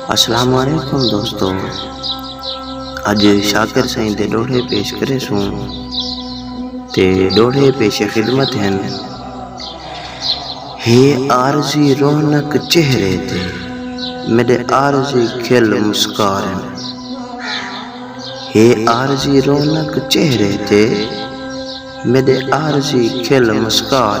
السلام علیکم دوستو اج شاکر سائیں دے ڈوہڑے پیش کرے سوں تے ڈوہڑے پیش خدمت ہیں ہے عارضی رونق چہرے تے میرے عارضی کھل مسکار ہے عارضی رونق چہرے تے میرے عارضی کھل مسکار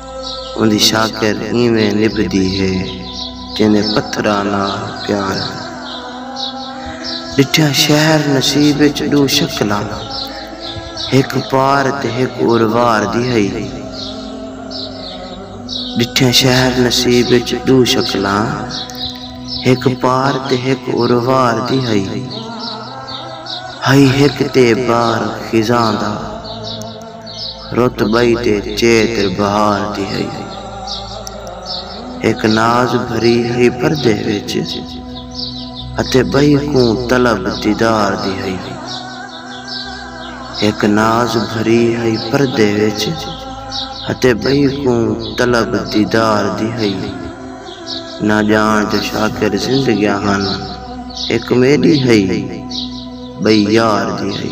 اوندی شاکر اینویں نبھدی ہے جینویں پتھراں نال پیار ہن۔ ݙٹھیاں شہر نصیب اچ ݙو شکلاں ہک پار تے ہک اروار دی ہئی۔ ݙٹھیاں شہر نصیب اچ ݙو شکلاں ہک پار تے ہک اروار دی ہئی۔ ہئی ہک تے بار خزاں دا۔ رت ٻئی تے چیت بہار دی ہئی۔ ہک ناز بھری ہئی پردے وچ اتے ٻئی کوں طلب دیدار دی ہئی۔ ہک ناز بھری ہئی پردے وچ اتے ٻئی کوں طلب دیدار دی ہئی۔ نہ ڄاݨ جو شاکر زندگیاں ہن ہک میݙی ہئی ٻئی یار دی ہئی۔